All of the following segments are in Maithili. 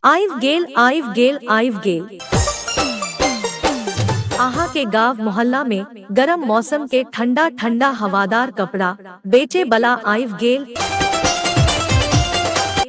आइव गेल आइव गेल आइव गेल आहा के गांव मोहल्ला में गरम मौसम के ठंडा ठंडा हवादार कपड़ा बेचे बला आइव गेल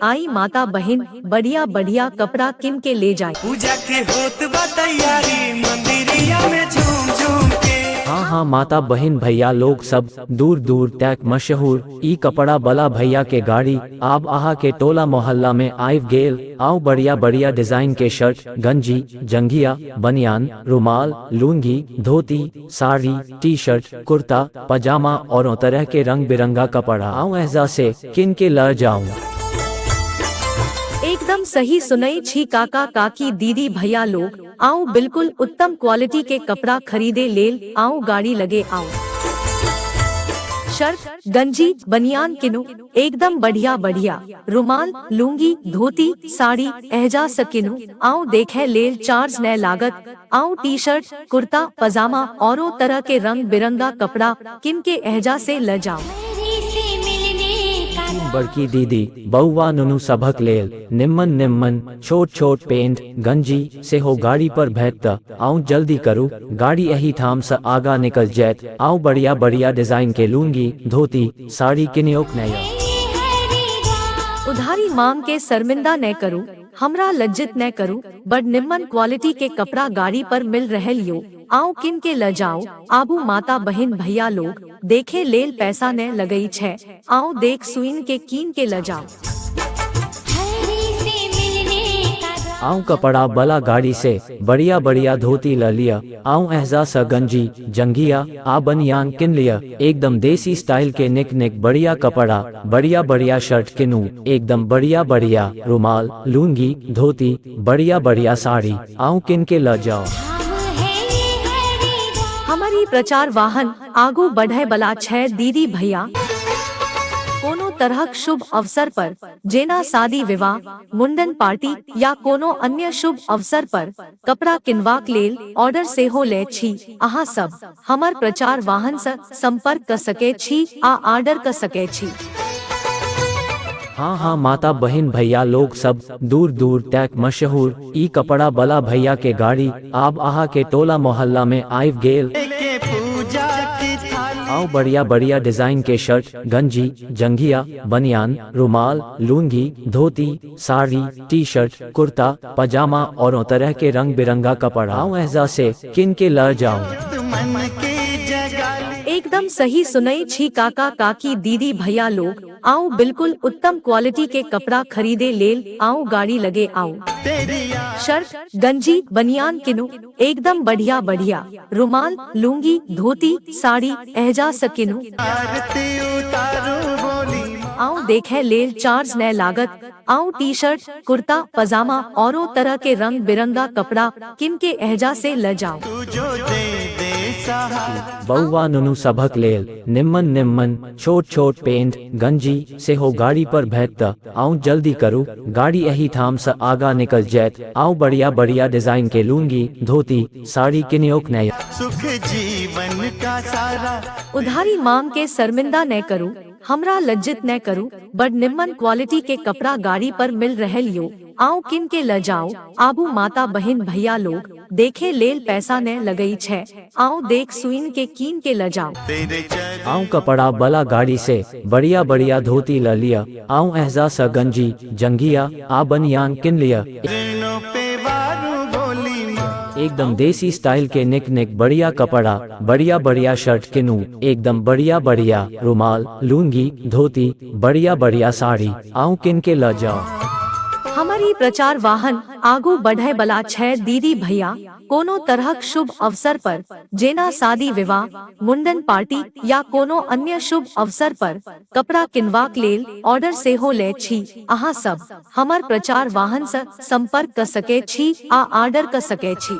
आई माता बहन बढ़िया बढ़िया कपड़ा किन के ले जाए पूजा के होत बा तैयारी मंदिरिया में झूम झूम के हाँ हाँ माता बहन भैया लोग सब दूर दूर तक मशहूर ई कपड़ा बला भैया के गाड़ी आब आहा के टोला मोहल्ला में आइव गेल आउ बढ़िया बढ़िया डिजाइन के शर्ट गंजी जंघिया बनियान रुमाल लूंगी धोती साड़ी टी शर्ट कुर्ता पजामा और तरह के रंग बिरंगा कपड़ा आऊ ऐसा से किन के लड़ जाऊं एकदम सही सुनई छी काका काकी दीदी भैया लोग आउ बिल्कुल उत्तम क्वालिटी के कपड़ा खरीदे लेल आउ गाड़ी लगे आउ शर्ट गंजी बनियान किनु एकदम बढ़िया बढ़िया रुमाल लूंगी धोती साड़ी एहजा सकिनु आउ देखे लेल चार्ज न लागत आउ टी शर्ट कुर्ता पजामा औरों तरह के रंग बिरंगा कपड़ा किन के एहजा से ल जाओ बड़की दीदी बउआ नुनू सभक लेल निम्मन निम्मन छोट छोट पेंट गंजी से हो गाड़ी पर भेत त आऊं जल्दी करू गाड़ी यही थाम से आगा निकल जैत आऊं बढ़िया बढ़िया डिजाइन के लूंगी धोती साड़ी किनियोक नया उधारी मांग के शर्मिंदा न करू हमरा लज्जित न करू बड़ निम्मन क्वालिटी के कपड़ा गाड़ी पर मिल रहल यो आउ किन के ल जाउ आबू माता बहिन भैया लोग देखे लेल पैसा ने लगई छै आउ देख सुइन के कीन के ल जाउ आऊ कपड़ा बला गाड़ी से बढ़िया बढ़िया धोती ल लिया आऊ एहजा सा गंजी जंगिया आ बनियान किन लिया एकदम देसी स्टाइल के निक निक बढ़िया कपड़ा बढ़िया बढ़िया शर्ट किनू एकदम बढ़िया बढ़िया रुमाल लूंगी धोती बढ़िया बढ़िया साड़ी आऊं किन के ल जाओ हमर ई प्रचार वाहन आगू बढ़य बला छै दीदी भैया कोनो तरहक शुभ अवसर पर जेना शादी विवाह मुंडन पार्टी या कोनो अन्य शुभ अवसर पर कपड़ा किनबाक लेल ऑर्डर सेहो ले छी अहाँ सब हमर प्रचार वाहन स संपर्क क सके छी आ आर्डर क सके छी। हाँ हाँ माता बहिन भैया लोग सब दूर दूर तैक मशहूर ई कपड़ा बला भैया के गाड़ी आब आहा के टोला मोहल्ला में आइव गेल आउ बढ़िया बढ़िया डिजाइन के शर्ट गंजी जंघिया बनियान रुमाल लूंगी धोती साड़ी टी शर्ट कुर्ता पजामा और तरह के रंग बिरंगा कपड़ा ऐसा से किन के लड़ जाओ एकदम सही सुनई छी काका काकी दीदी भैया लोग आओ बिल्कुल उत्तम क्वालिटी के कपड़ा खरीदे लेल आओ गाड़ी लगे आओ शर्ट गंजी बनियान किनो एकदम बढ़िया बढ़िया रुमाल लूंगी धोती साड़ी एहजा सकिनु आऊ देखे लेल चार्ज न लागत आऊ टी शर्ट कुर्ता पजामा और तरह के रंग बिरंगा कपड़ा किन के एहजा से ल जाओ बउवा नुनु सभक लेल निम्मन निम्मन छोट छोट पेंट गंजी से हो गाड़ी पर भेट आउ जल्दी करू गाड़ी एही ठाम से आगा निकल जायत आउ बढ़िया बढ़िया डिजाइन के लूंगी धोती साड़ी किनियोक नय सुख जीवन का सारा उधारी मांग के शर्मिंदा न करू हमरा लज्जित न करू बड़ निम्मन क्वालिटी के कपड़ा गाड़ी पर मिल रहल यो आउ किन के ल जाओ आबू माता बहन भैया लोग देखे लेल पैसा ने लगई छै आओ देख सुइन के कीन के ल जाओ आऊं कपड़ा बला गाड़ी से बढ़िया बढ़िया धोती ल लिया आऊं एहजा स गंजी जंगिया आ बनियान किन लिया एकदम देसी स्टाइल के निक निक बढ़िया कपड़ा बढ़िया बढ़िया शर्ट किनू एकदम बढ़िया बढ़िया रुमाल लूंगी धोती बढ़िया बढ़िया साड़ी आऊं किन के ल जाओ हमारी प्रचार वाहन आगू बढ़य बला छै दीदी भैया कोनो तरहक शुभ अवसर पर जेना शादी विवाह, मुंडन पार्टी या कोनो अन्य शुभ अवसर पर कपड़ा किनवाक लेल ऑर्डर सेहो लय छी अहाँ सब। हमर प्रचार वाहन स संपर्क क सकय छी आ आर्डर क सकय छी।